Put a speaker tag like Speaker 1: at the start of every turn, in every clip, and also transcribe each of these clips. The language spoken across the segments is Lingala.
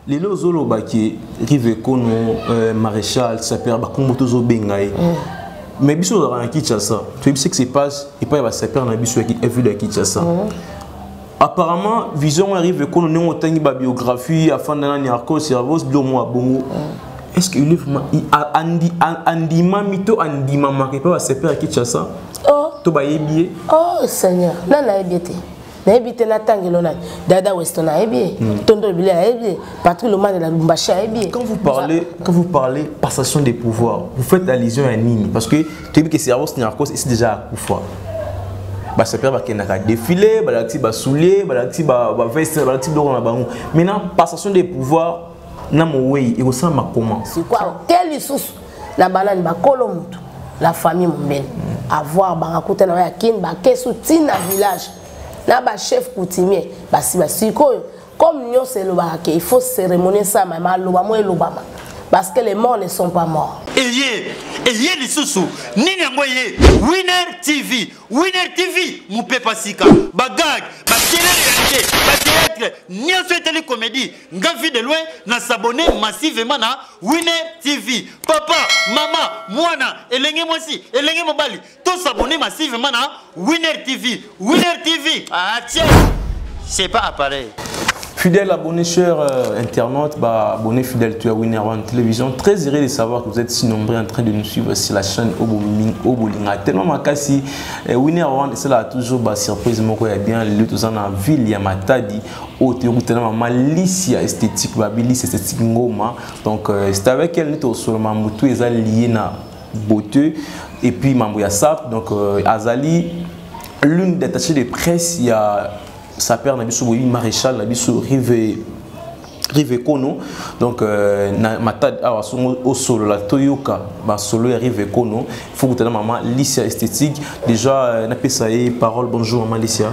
Speaker 1: lelo ozoloba ke rive kono euh, maréchal saper bakombo tozobenga ye mm. mais biso tozalaka na kinshasa toyebi ce qui se passe epai ya basapere na biso ya ville ya kinshasa mhm. apparemment vision ngo arrive ekono ndenge otangi babiographie afanda nani arco cervos bilo mwa bongo mhm. est ce que il est vraiment andimami to andimamaka epai basapere ya kinshasa oh. to bayebi ye oh seigneur
Speaker 2: nani ayebi ye te nayebi te natanga elo nani dada weston ayebi ye hmm. tondo ebile ayebi ye patrik lomane na lubumbashi ayebi ye quand vous parlez quand
Speaker 1: vous parlez passation des pouvoirs vous faites allusion ya nini parce que toyebi ke servos narcos esi déjà akufa basapere bakendaka défilé balakisi basoulier balakisi baveste balakisi biloko na bango maintenant passation des pouvoirs na mowei ekosalama comment sikoyo te
Speaker 2: lisusu na banani bakolo motu la famille mombele avoir banga kuta na ya kin bakesu ti na village na bachef coutumier basi basikoyo comme nyonso elobaka ke il faut cérémonie esalama maloba mo elobama parce que les morts ne sont pas morts eye eye
Speaker 3: lisusu nini yango eye winner tv winner tv mopepa sika bagag bakelele ya te bateatre nyonso etali komedi nga vie de loin na s'abonne massivement na winner tv papa mama mwana elenge mwasi elenge mobali to s'abonne massivement na winner tv winner tv ah tiens c'est pas appareil Fidèle abonné,
Speaker 1: cher euh, internaute, bah, abonné fidèle, tu as Winner One Télévision. Très heureux de savoir que vous êtes si nombreux en train de nous suivre sur la chaîne Obolinga. Tellement ma cassi, euh, Winner One, c'est là toujours bah, surprise, mon quoi, bien, le tout en ville, il y a Matadi. oyo toyokutana na mama lisi ya esthétique babi lisi esthétique ngoma donc euh, c'est avec elle neti osolo mambo tu eza lié na beauté et puis mambo ya sap donc euh, azali l'une des attachées de presse ya sapeur na biso boyebi maréchal na biso rive rive kono donc euh, na matad awa songo osolola toyoka basolo ya rive kono faut kutana mama licia esthétique déjà euh, napesa ye parole bonjour mama licia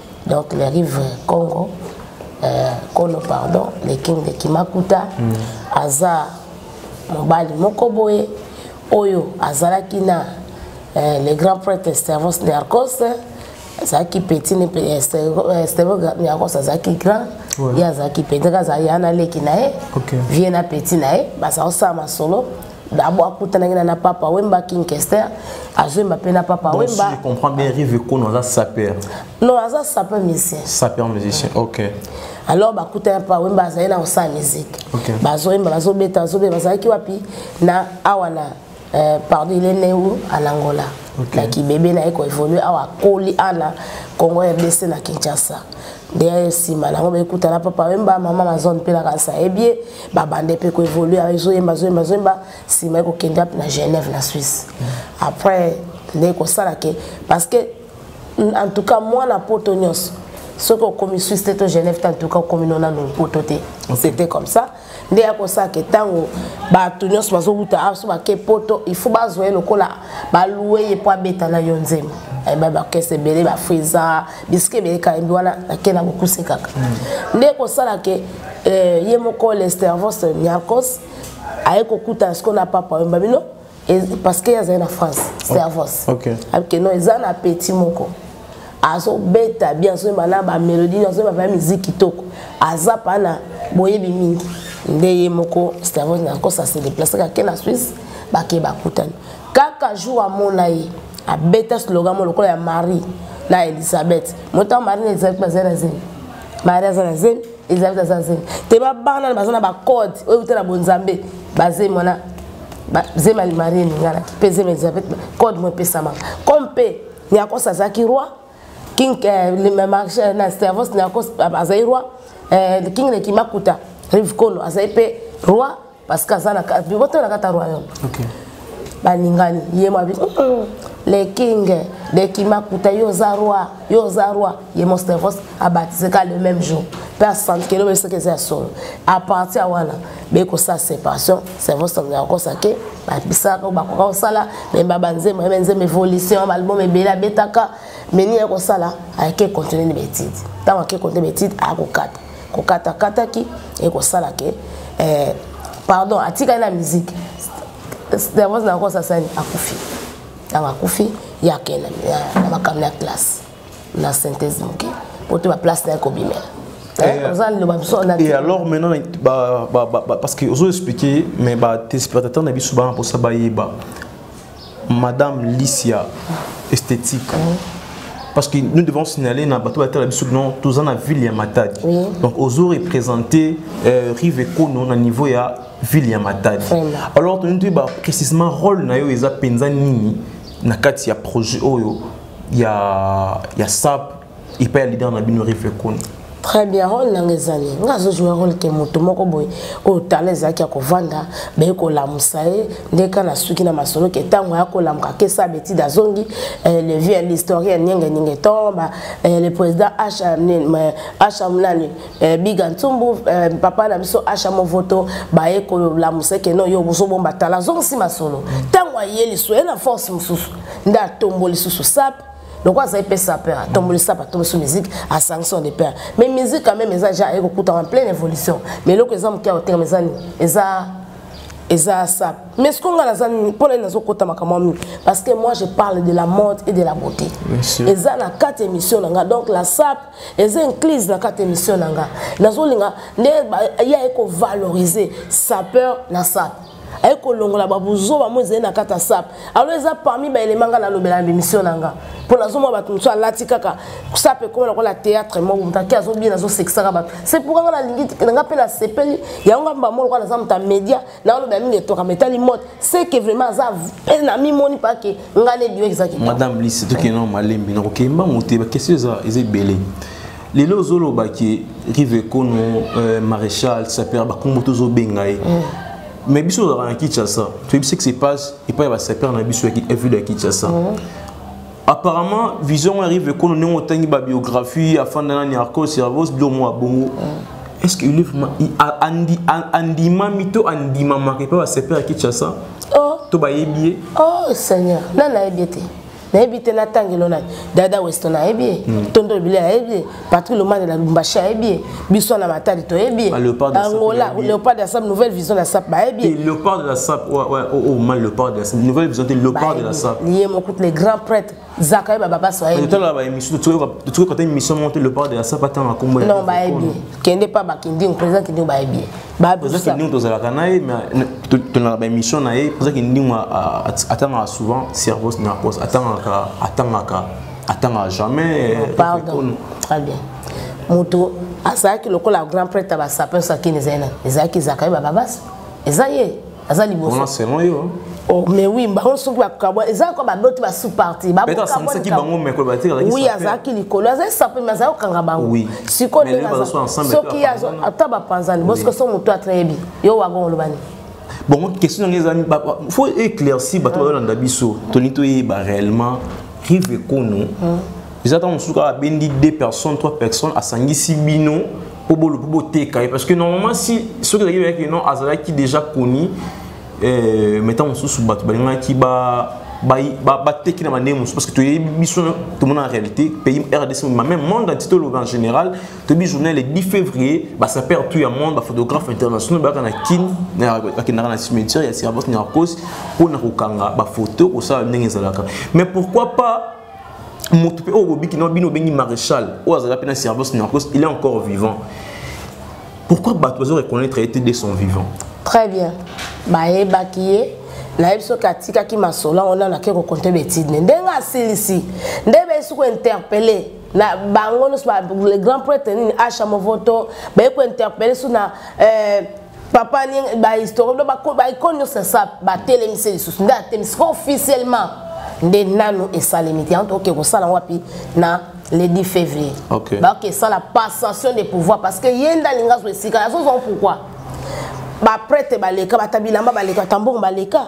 Speaker 2: donc le rive congo euh, kolo pardon le king de kimakuta mm. aza mobali moko boye oyo azalaki na euh, le grand prêtre stervos niarcos azalaki petit ne euh, euh, stervos niarcos azalaki grand ye azalaki petit kaka azalaki ya na leki na ye vie na petit na ye bazakosala masolo dabo akutanaki na na papa wemba king kester azoyemba mpe na papa Donc, wemba si je comprends bien rive
Speaker 1: kono aza saper non aza
Speaker 2: sapeur musicien saper musicien ok
Speaker 1: alors bakutana
Speaker 2: mpa wemba azali na kosala miziki Ok. bazoyemba bazobeta bazobeta bazalaki wapi na awa na euh, pardon il est né où en angola Ok. na kibebe na ye koévolue awa akoli awa na congo rdc na kinshasa ndeya ye nsima nango bakutana papa wemba mama mazone mpe na kanisa ebie babande mpe koevolue ezoyemba zoyemba zoyemba nsima ye kokende ape na genève na suisse après nde kosala ke parce que en tout cas mwana poto nyonso soki okomi suisse te to genève te en tout cas okomi nonano poto te c'était comme ça nde ya kosala ke ntango bato nyonso bazowuta aso bake poto il faut bazwa ye lokola balue ye mpo abeta na yo nzembo eh, babakese ebele bafriza bisika ebele kalembi wana ake na bokuse kaka hmm. nde kosala ke eh, ye moko lestervos niarcos aye kokutana sikoyo na papa oyemba bino parce que azali na france servos oh, okay. okay, non eza na petit moko azobeta bien azoyemba na bamélodie azoyemba mpe miziki kitoko aza mpa na boyebi mingi nde ye moko stervos nakosa se déplace kake na swisse bake bakutani kaka jour amona ye abeta slogan mo lokola ya marie na elisabeth motango marie na elisabeth bazali na zemi marie aza na zemi Elisabeth aza zemi. Te ba bana baza na ba code oyo utela bonzambe ba zemi wana ba zemi ali marie ningana pe zemi Elisabeth code mo pesama. Comme pe Niakos azaki roi King eh, le marché eh, na Stavros Niakos azaki roi eh, King le Kimakuta Rivkolo azaki pe roi parce que aza na biboto na kata royaume okay. balingani ye mabi le king de kimakuta yo oza roi yo oza roi ye mostevos abatise ka le même jour mpe asantikeli oyo soki eza ya solo apartir wana bekosala séparation cerveau sango ya kokosa ke babisaka oyo bakoka kosala memba banzembo yebe nzembo évolution balbum ebele abetaka meni ya kosala ayeke continue na betide ntango ake continue betide akokata kokatakataki ekosala ke eh, pardon atikali na miziki davance na kosa sani akufi ntango akufi ye akenda na makambo ya classe na synthèse moke mpo te baplace na ye kobimela eh, eh,
Speaker 1: et alors maintenant bah, bah, bah, parce que ozo expliquer mais ba téléspectateurs na biso bana mposa bayeba madame Licia esthétique parce que nous devons signaler na bato batala biso non toza na ville ya matadi oui. donc ozo représenter euh, rive ekono na niveau ya ville ya matadi alors toyini toyeba précisément rôle na yo eza mpenza nini na kati ya projet oyo ya, ya sap epai ya leader na bino rive koni très bien role
Speaker 2: nanga ezali nga azojoue role ke moto moko boye oyo tala ezalaki ya kovanda baye kolamusa ye nde ka na suki na masolo ke ntango aya kolamuka kesa betide azongi eh, le vieux l'historien nienge ninge to eh, le président asha eh, nani biga ntumbu papa na biso asha movoto baye kolamusa ke no yo bozobomba tala azongisi masolo ntango aye lisu ye na force mosusu nde atombo lisusu sape donc aza ye mpe sapeur atomboli sapa atombosi musique asangisi on de père mais musique quand même eza ja ekokutaka en pleine évolution mais eloko eza moke ya kotekama eza nini eza eza sap mais ce ngai naza nini mpo nani nazokota makambo mingi parce que moi je parle de la mode et de la beauté eza na kati émission na nga donc la sap eza inclise na kati émission na nga nazolinga nde ya ekovaloriser sapeur na sap aye kolongola babuzoba mo ezali na kati ya sap alo eza parmi baelema ngai nalobela na bemission na nga mpo nazomona bato mosusu alati kaka sap ekoma lokola théâtre moko moto ake azobie nazosekisaka bato se mpoka ngai nalingi nanga mpe nasepeli yango ngai mbamo lokola naza moto ya média naolobela mingi etokama etali mote seke vraiment aza mpe namimoni mpake ngai nebiwekizaki madame lisi tokende na
Speaker 1: malembi nakokei mbango te bakestion eza ebele lelo ozoloba ke rive ekono euh, maréchal saper bakombo tozobenga ye mm. mais biso ozalaka na kinshasa toyebi ce qui se passe epai ya basaper na biso ya ville ya kinshasa mm. apparemment vision ya rive ekono ndenge otangi babiographie afanda nani arco servos bilomo ya bongo mm. est ce que andimami to andimamaka epai basaper ya kinshasa oh. to bayebi ye oh seigneur
Speaker 2: nani ayebi ye te nayebi te natangelo nani dada weston ayebi ye hmm. tondo ebile ayebi ye patrik lomane na lumbashi ayebi ye biso na matali toyebi ye ah, angola léopard de la sap nouvelle vision de la sap bayebi ye léopard de la sap
Speaker 1: oh, oh, mal léopard de la sap nouvelle vision te léopard de la sap ye mokutu les grands
Speaker 2: prêtres zaka ye baba baso ayebitala baémission
Speaker 1: toyoka te émission moko te léopard de la sap atanga kombo non bayebi ye
Speaker 2: kende pa bakindingo président kindingo bayebi ye toza kindingo tozalaka
Speaker 1: na ye tolaka baémission na ye toza kindingo atangaka souvent cerveau na cause atangaka atangaka atangaka jamais euh, pardon
Speaker 2: très bien moto azalaki lokola grand prêtre ya basapin soki ezali nani ezalaki ezalaka ye bababasi eza ye aza liboso selon yo
Speaker 1: Oh, mais oui bango
Speaker 2: soki bakabwa eza kaka baboti basous parti
Speaker 1: oui azalaki likolo
Speaker 2: azali sape me azali kokanga bango sikoyo ndenge soki ata bapanzani bosiko so motu atreyebi yo wago olobani bongo question
Speaker 1: yango ezali faut éclaircir bato bayolanda biso tolingi toyeba réellement rive ekono eza ntango mosusu kaka abendi deux personnes trois personnes asangisi bino mpo boluki boteka ye parce que normalement si soki ezalaki oyaki non azalaki déjà connu eh, mais ntango mosusu bato balingaki ba bateki na bandenge mosusu parce que toyebi biso tomona na réalité pays rdc mobima même monde entier toloba en général toyebi journée le 10 février basaper tout ya monde baphotographe international bayaka na kin bakendaka na cimetière ya sirabos narcos mpo na kokanga bafoto kosala ndenge ezalaka mais pourquoi pas moto mpe oyo bobiki na bino obengi maréchal oyo azala mpe na service na yango il est encore vivant pourquoi bato bazo reconnaître ye te de son vivant très bien
Speaker 2: bayebaki ye nayebi soki atikaki masolo yango nano ake kokonte betide ne ndenge asilisi nde besi kointerpele na bango nyonso le grand prêtre nini asha movoto baye kointerpele so na euh, papa bahistorien baikone nyonso ya sa batelemisi lisusu nde atelemisi ko officiellement nde nanu esalemi te yango tokoke kosala yango wapi na le 10 février okay. bakoki esala passation de pouvoir parce que ye nde alingi azwa esika azozwa pourquoi baprete baleka bata bilamba baleka tambongo baleka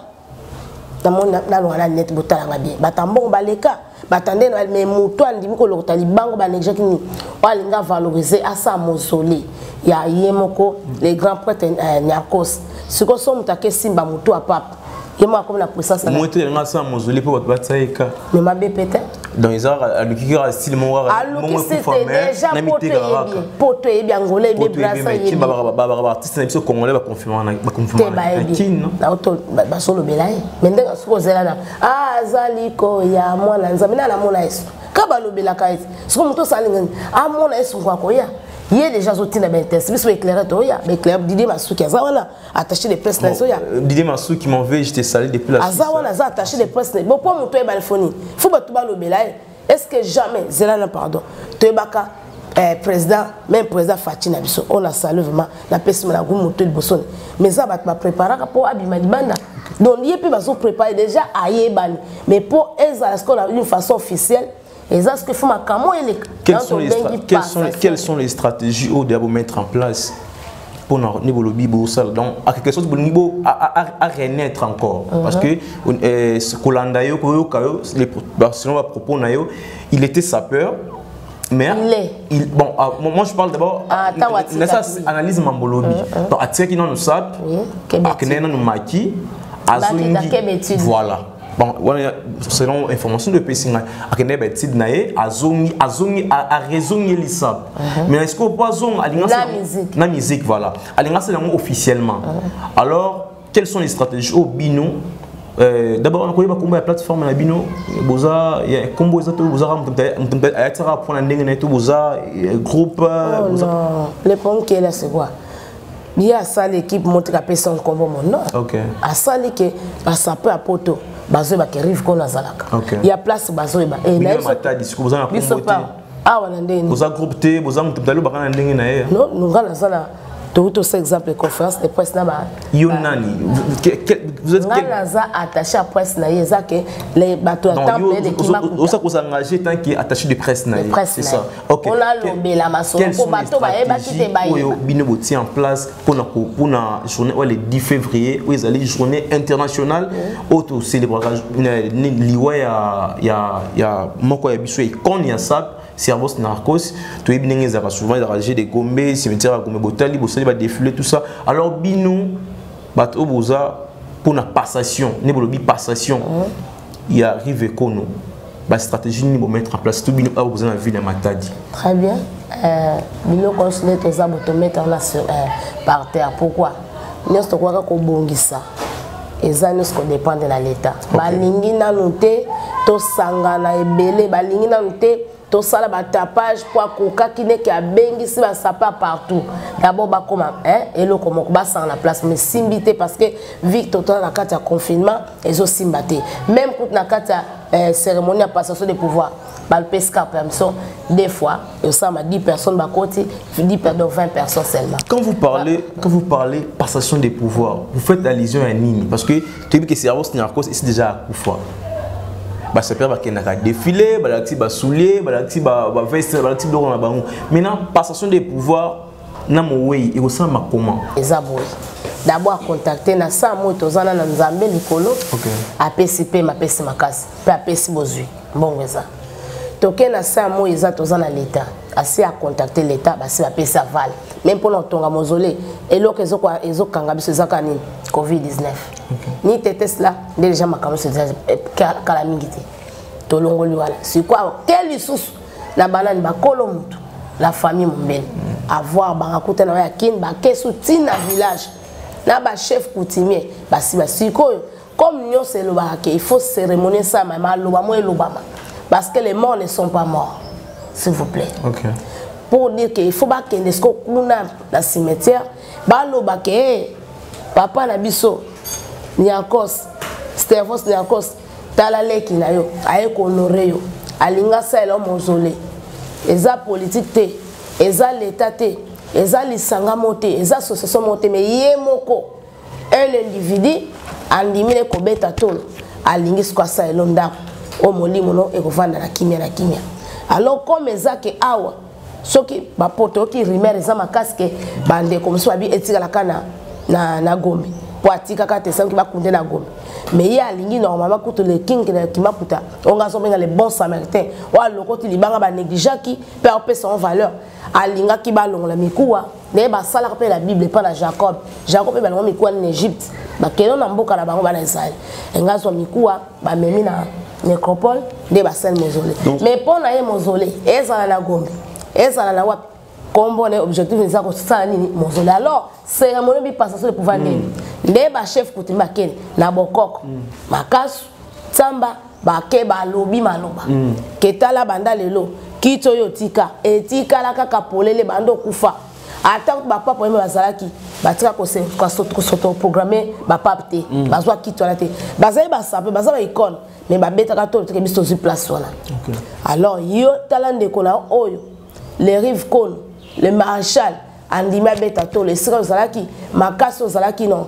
Speaker 2: namoni nalonga na linete botalanga bien bato ya mbongo baleka batande na me moto andimi kolokota libango baneglaki nini oyo alingi avalorize asa mosole ya ye moko le grand prêtre eh, niarcos sikoyo so moto ake simba motu ya pape ye moko akomi na puissance moto elingi asa mosole
Speaker 1: mpo bato batia ye ka me mabe pete
Speaker 2: donc eza kaka
Speaker 1: aluki kaka style moko kakana
Speaker 2: mitekaa poto eyebi angola eyebi brasa eyebi
Speaker 1: baartiste na biso congolais baconfirmabasolobela
Speaker 2: ye mais ndenge soki ozela na ah, azali koya mwana nzambe na namona yesu ka balobelaka ye soki moto osalingani amona ah, yesu ngo akoya ye deja azotinda baintense biso baeclaire toya baeclaire didie masuki aza wana attaché de presse na zoya Didier Masuki mon veut
Speaker 1: je te salue depuis la Aza wana aza attaché de presse
Speaker 2: na bon pour muto ebale foni faut ba tuba lobela eh. est-ce que jamais zela na pardon toyebaka eh, président même président Fatih na biso on a salué vraiment na pesi na goût muto liboso mais ça ba préparaka po abima libanda donc ye pe bazo préparer déjà ayebani mais pour ezala ce qu'on a une façon officielle eza sikoyo fo makambo eleka quelles sont,
Speaker 1: les quelles, sont, quelles sont les stratégies oyo deya bomettre en place mpona nde bolobi bosala donc à quelque chose bolingi bo à renaître encore uh -huh. parce que euh, kolanda yo koyoka yo selon bapropos na yo il était sapeur mais il est. Il, bon, ah, moi je parle d'abord ah, nasa analyse mambolobi uh -huh. donc atikaki nanu sap akendeki nanu maki azongi voilà bon wana selon information oyo epesi ngai akende ba étude na ye azongi azongi arezongelisa mhm. mais est-ce que po azonga alinga na musique voilà alinga asala yango officiellement mhm. alors quelles sont les stratégies oyo bino Euh, d'abord nakoyeba nkombo ya plateforme na bino boza nkombo eza to bozaka moto ayatisaka mpona ndenge na ye to boza groupe oh boza...
Speaker 2: le problème qui est là c'est quoi ye asali équipe motika apesa nkombo mo non okay. asali ke basapo ya poto bazoyeba ke rive kono azalaka okay. ya place bazoyeba eh, biso pa
Speaker 1: awa na
Speaker 2: ndenge boza groupe te boza
Speaker 1: moto mtali obaka na ndenge na ye no nonga naza na
Speaker 2: tokuti osa exemple conférence de presse na ba yo nani
Speaker 1: ngai naza attaché ya
Speaker 2: presse na ye eza ke bato ya temple elekima osa kosa engagé
Speaker 1: tant que attaché de presse na ye c'est ça Okay. On a lobé la maçon.
Speaker 2: Quelles sont les stratégies oyo bino botie en place
Speaker 1: pour na pour na journée le 10 février où ils allaient journée internationale auto célébrer liwa ya ya ya moko ya biso icône ya sap cervos narcos toyebi ndenge ezalaka souvent ezalaka jeu de gombe cimetière ya gombe botali bosali badefile tout ça alors bino bato oyo boza mpona passation nde bolobi passation ya rive kono ba stratégie nini bo mettre en place tout bino awa boza na ville ya matadi très bien euh,
Speaker 2: biloko nyonso nde toza bo tomettre wana sur euh, par terre pourquoi nyonso tokoka kobongisa eza nyonso kodépendre na l'état okay. balingi nanu te tosangana ebele balingi nanu te tosala batapage mpo akokaki neke abengisi basapa partout dabord bakoma eloko moko basanga na place mesimbi te parce que victor tona na kati ya confinement ezosimba te meme kutu na kati ya eh, cérémonie ya passation de pouvoir balopesi kaka permission des fois esalama 10 personnes bakoti 10 perdon 20 personnes seulement quand vous parlez bah.
Speaker 1: quand vous parlez passation de pouvoir vous faites allusion à nini parce que toyebi ke cerveau narcos esi déjà akufa basapere bakendaka défilé balakisi basoulier balakisi baveste balakisi biloko na bango maintenant passation de pouvoir na mowei ekosalama comment eza boye
Speaker 2: dabo akontakte na saa moi tozana na nzambe likolo okay. apesi mpe mapesi makasi mpe apesi bozwi mbongo eza toke na saa moi eza toza na leta asi akontakte leta basi bapesi aval meme mpona kotonga mozole eloko ezokanga biso ezaka nini covid-19 okay. ni tetesla nde deja makambo nyonso kala mingi te tolongoli wana sikoyo te lisusu na banani bakolo motu la famille mombele mm. avoir banga kuta na ya kin bakesu tina village na ba chef coutumier basi basikoyo comme nyonso elobaka ke il faut cérémonie esama maloba mo elobama parce que les morts ne sont pas morts s'il vous plaît okay. pour dire que il faut bakende siko kuna na cimetière baloba ke hey, papa na biso niakos stervos niakos tala leki na yo aye kohonore yo alingi asalela yo mozole eza politike te eza leta te eza lisanga moko te eza association moko te me ye moko un individu andimi ne kobeta tolo alingi siko asalela yo ndako oyo molimo no ekovanda na kimia na kimia alors comme eza ke awa soki bapoto oyoki rumeur eza makasi ke bandeko mosusu babi etikala kaka na, na, na gombe mpo atikaka te soki bakunde na gombe mais ye alingi normalement kutu le king na kimaputa oyo nga azobenga le bon samaritain oyo alokoti libanga banegligeaki mpe aopesa en valeur alingaki balongola mikuwa naye basalaka mpe na bible mpo na jacob jacob mpe balongo mikuwa na egypte bakende na mboka na bango bana israele enga azwa mikuwa bamemi na necropole nde basali mozole mais mpo na ye mozole ezala na gombe ezala na wapi kombo na objectif eza kosala nini mozole alors cérémonie bipasaso epouva nini mm. nde bachef kutimi bakende na bokoko mm. makasu nsamba bake balobi maloba mm. ketala banda lelo kiti oyo tika etikala kaka polele banda okufa ata kutu bapape oyembe bazalaki batika kosotoprograme bapape te mm. bazwa kiti wana te bazali basape baza ba icone mais babetaka to teke biso tozwi place wana alors yo tala ndeko na oyo le rive kono le maréchal andimi abeta tolo esika ozalaki makasi ozalaki no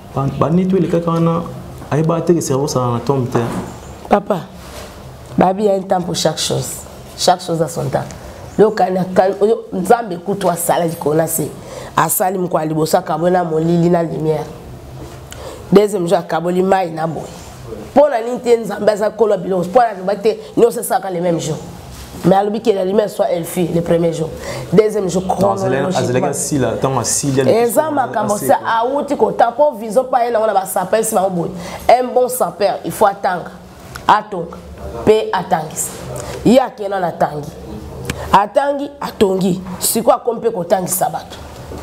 Speaker 1: bani to elekaka wana ayebaka te ke cerveau sala na tombe te papa
Speaker 2: babi ya un temps pour chaque chose chaque chose à son temps yokana oyo nzambe kutu asala likolo na se asali moko ya liboso akaboli na molili na lumière deuxième jour akaboli mai na boye mpo na nini te nzambe aza kolo ya biloko mpo na loba te nyonso esalaka le même jour mais alobi ke la lumière soit elfi le premier jour deuxième jour
Speaker 1: chronologiquementeza makambo se
Speaker 2: awuti kotanga mpo vision mpa ye nango na basapere si bango boye un bon sapere il faut atanga atonga mpe atangisa ye akena na tangi atangi atongi sikoyo akomi mpe kotangisa bato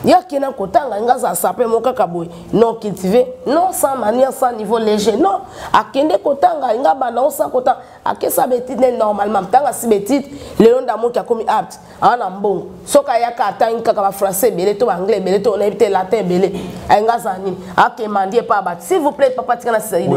Speaker 2: ye akenda kotanga nga aza sapere moko kaka boye non cultive non sans manière sans niveau léger non akende kotanga nga banda osa kotanga akesa betite nde normalement ntango asi betite lelo ndamoki akomi apte aa na mbongo soki ayaka atangi kaka bafrançais ebele to baanglais ebele to nayebi te latin ebele ayinga azala nini akemandie epa bato s'il vous plaît papa tika na sisaido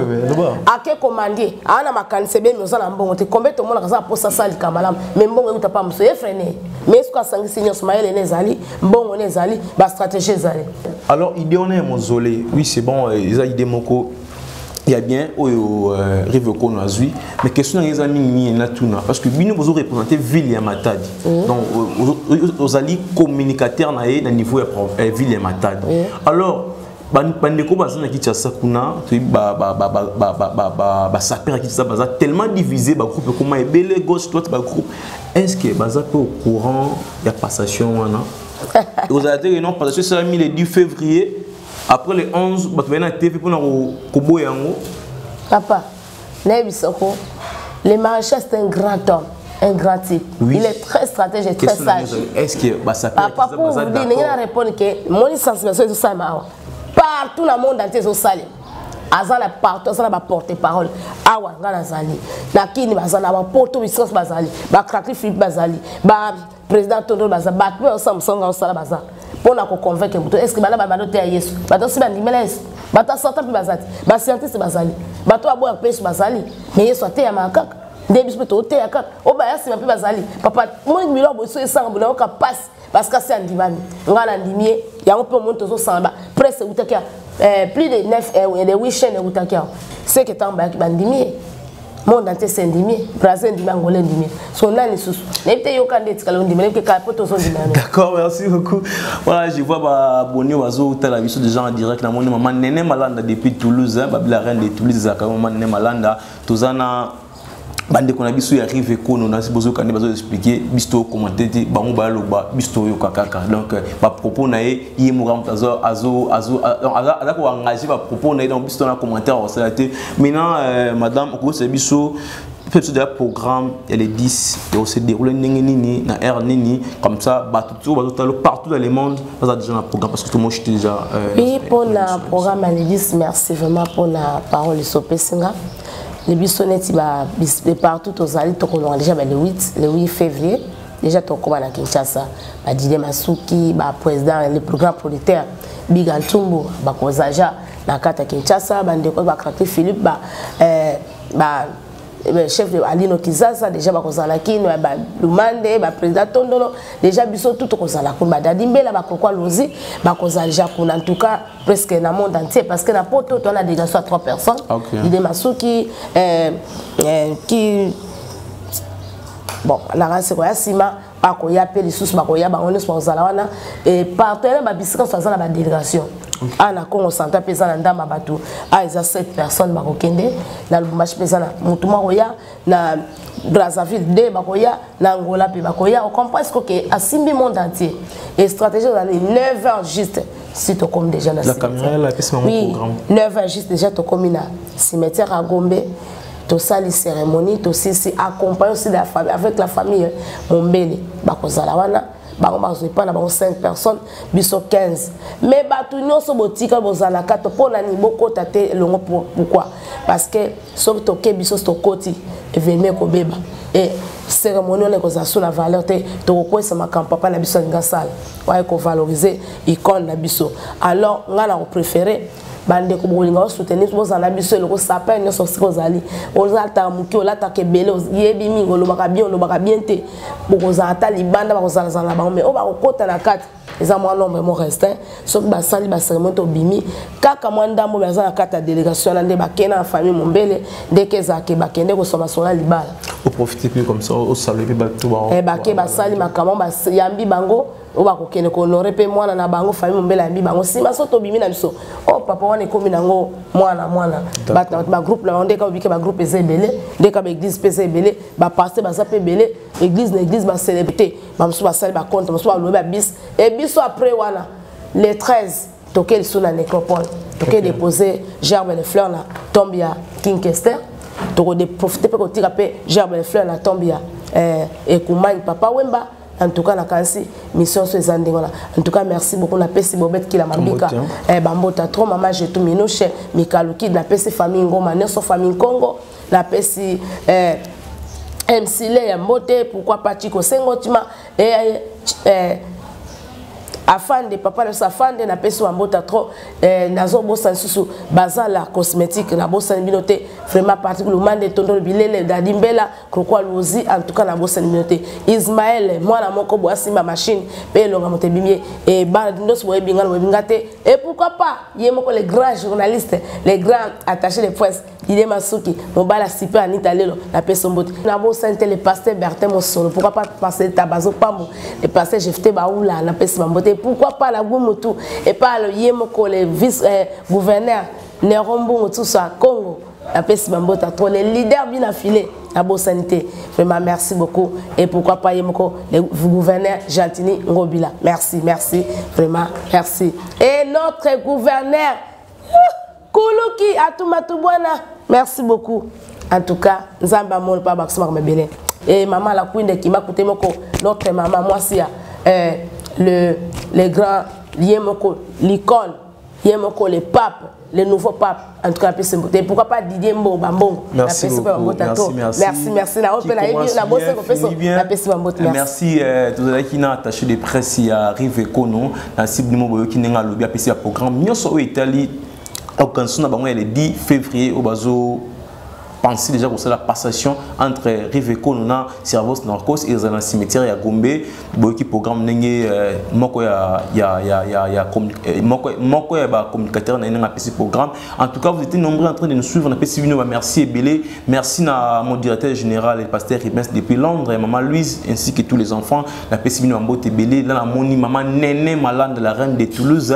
Speaker 2: ake komandie aa na makanisi ebemi oza na mbongo te kombe tomonaka aza mposa asalika malamu me mbongo euta pa mosu efrene me soki asangisi nyonso mayele ne ezali mbongo ne ezali bastratégie ezali alors idée wana
Speaker 1: ya mozole oui c'est bon eza idée moko ya bien oyo euh, rive kono azwi mais question nanga eza mingi mingi na tuna parce que bino bozo représente ville ya matadi mm. donc euh, euh, ozali communicateur na ye na niveau ya ville ya matadi mm. alors bandeko baza na kinshasa kuna toyebi basaper ya kinshasa baza tellement divise bagroupe ekoma ebele gauche droite bagroupe est ce que baza mpe au courant ya passation wana ekozala te ke non passation esalami le 10 février après le 11 bato baye na te mpe mpona koboya yango papa
Speaker 2: nayebisa ko le maréchal c'est un grand homme un grand type oui. il est très stratège et très sage est-ce que basapapa
Speaker 1: pour vous dire ndenge na
Speaker 2: répondre ke moni sensibilisation ezosalema awa partout na monde entier ezosalema aza na partout aza na baporte parole awa ngai nazali na kini bazali na bapoto bisikoso bazali bacracli philippe bazali président tondo baza bato mpe osala mosala nga osala baza mpo na koconvaincre moto estce bana babanda oteya yesu bato osi bandimela yesu bato ya satan mpe bazali bascientiste bazali bato oyo aboyaka mpe yesu bazali me yesu ateyamaka kaka nde biso mpe tooteya kaka oyo baya nsima mpe bazali papa moni biloko boso esanga bonayoka mpasi parce kasi andimami ngai nandimi ye yango mpe omoni tozosangana presse eutaki ya eh, plus de 9 eh, de 8 chaine eutaki yango seke ntango bayaki bandimi ye monde entier sendimi brasil endimi angola endimi so nani lisusu nayebi te yoka nde etikala ondimi nayebi te kala mpo tozondima yango d'accord merci beaucoup
Speaker 1: voilà je vois baboni bazotala biso déjà en direct namoni mama nene malanda depuis toulouse babila reine de toulouse ezalaka mama nene malanda toza na bandeko na biso ya rive ekono na bozoyoka nde bazoexplike biso tokokomante te bango bayaloba biso toyoka kaka donc bapropos na ye ye moka moto aza koengage bapropos na ye donc biso tona commentaire akosala te maintenant euh, madame okokosela biso mpe biso deja programme ya le 10 ekose déroule ndenge nini na aire nini comme ça bato tio bazotala partout dans le monde baza déjà na programme parce que tomoshi te déjà mpe mpona
Speaker 2: programme ya le 10 merci vraiment mpona parole esopesi nga le biso neti partout tozali tokolonga déjà ba le 8 le 8 février Déjà tokoma na Kinshasa, ba Dide Masuki, ba président les plus grands producteurs, Big Antumbu, ba Kozaja, na kata Kinshasa, ba ndeko ba Kaki Philippe, ba euh, ba eh chef de Alino Kizaza déjà ba kozala kino eh ba Lumande ba président Tondolo déjà biso tout kozala ko ba Dadi Mbela ba Kokwa Lozi ba kozala déjà kuna en tout cas presque na monde entier parce que na poto on a déjà soit trois personnes okay. Dide Masuki euh, euh, qui bon nanga seko ya nsima bakoya mpe lisusu bakoya bango nyonso bakozala wana e partenaire babisika nyonso aza na badélégation awa na congo central mpe eza na ndambo ya bato awa eza 7 personnes bakokende na lubumbashi mpe eza na motu mwa koya na brazzaville de bakoya na angola mpe bakoya ocomprend siko ke asimbi monde entier e stratégie ozali 9 heures juste si tokomi déjà na oui
Speaker 1: 9 heures juste déjà
Speaker 2: tokomi na cimetière ya gombe tosali cérémonie tosilisi accompagne aussi la famille avec la famille mombele bakozala wana bango bazwa epai na bango 5 personnes biso 15 mais bato nyonso botika bozala kato mpo na nini bokota te elongo pourkui parce que soki toke biso tokoti evenema ekobeba e cérémonie wana ekozala so na valeur te tokokwesa makambo papa na biso alingi asala oyo ekovalorize icone na biso alors ngai na kopréféré bandeko bokolinga osoutenir bozala biso eloko sapin nyonso esika ozali olataka moke olataka ebele yebi mingi olobaka bien olobaka bien te bokozala ata libanda bakozalazala na bango mai oyo bakokota na kati eza mwa nombre mo restin soki basali baseremoni tobimi kaka mwa ndambo mai aza na kati ya délégation wana nde bakei na famille mombele ndeke ezalaka bakende koswa masolo ya libala oprofite mpe
Speaker 1: comme ça osala mpe bato eh, bake basali makambo
Speaker 2: bayambi bango oyo bakokende kohonore mpe mwana na bango famille mombele yambi bango nsima so tobimi na biso o oh, papa wana ekomi nango mwana mwana bagroupe na bango ndeka obike bagroupe eza ebele ndeka baeglise mpe eza ebele bapaste baza mpe ebele eglise na eglise bacelebrité bamosusu basali bacompte mosusu balobi babis e biso après wana le 13 toke lisusu na necropole toke dépose gerbe de fleur na tombe ya king kester tokoprofite mpe kotika mpe gerbe de fleur na tombe ya eh, ekumani papa wemba en tout cas nakanisi mission so eza ndenge wana en tout cas merci beaucoup napesi bobete kila mambika eh, bambota trop mama jetu minushe mikaluki napesi famille ngoma nyonso famille nkongo napesi eh, msile ya mbote pourquoi pas chiko sengotima eh, eh, afande papa na biso afande napesi wambota trop eh, nazobosa lisusu bazala cosmétique nabosani bino te vraiment particulièrement nde tondolo bilele dadi mbela Koko Aluzi en tout cas na bosani bino te Ismaël mwana moko boya simba machine pe elonga moto ebimi ye e bana ndoso boye binga boye binga te et pourquoi pas ye moko le grand journaliste le grand attaché de presse Dide Masuki mobala sipe Anita Lelo na peso mbote na bosani te le pasteur Bertin Mosolo pourquoi pas passer Tabazo Pambo le pasteur Jefte Baoula na peso mbote pourquoi pas la Gumutu et pas le ye moko le vice euh, gouverneur Nero Mbungu tout ça Congo napesi bambota trop le leader bina file nabosani te vraiment merci beaucoup et pourquoi pas ye moko le gouverneur gentini ngobila merci merci vraiment merci et notre gouverneur kuluki atumatu bwana merci beaucoup en tout cas nzambe amoni mpo abakisama koma ebele e mama la kuinde kima kute moko notre mama mwasi ya eh, le, le grand ye moko l'icone ye moko le pape le nouveau pape en tout cas apesi mbote pourquoi pas didier mbongo bambongo apesi mpe bambota
Speaker 1: to merci merci
Speaker 2: na oyo mpe nayebi nabosai kopesa napesi
Speaker 1: bambote merci euh, tozalaki na attaché de presse ya rive ekono na cible nimo boyoki ndenge alobi apesi ya programme nyonso oyo etali organisation na bango ya le 10 février oyo bazo pensé déjà que c'est la passation entre Rive Konona, Servos Narcos et dans cimetière à Gombe, qui programme n'engé euh, moko ya ya ya ya ya euh, moko moko ya ba communicateur na nga pesi programme. En tout cas, vous étiez nombreux en train de nous suivre, na pesi bino merci et belé. Merci na mon directeur général et pasteur Ribens depuis Londres, et maman Louise ainsi que tous les enfants, na pesi bino mbote belé, na moni maman Nene Malande la reine de Toulouse.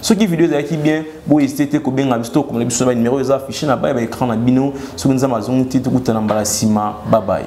Speaker 1: soki video ezalaki bien bo hésité te kobenga biso tokomela biso na banimero eza affiché na baya baécran na bino soki nzambe azongi te tokutana mbala nsima babaye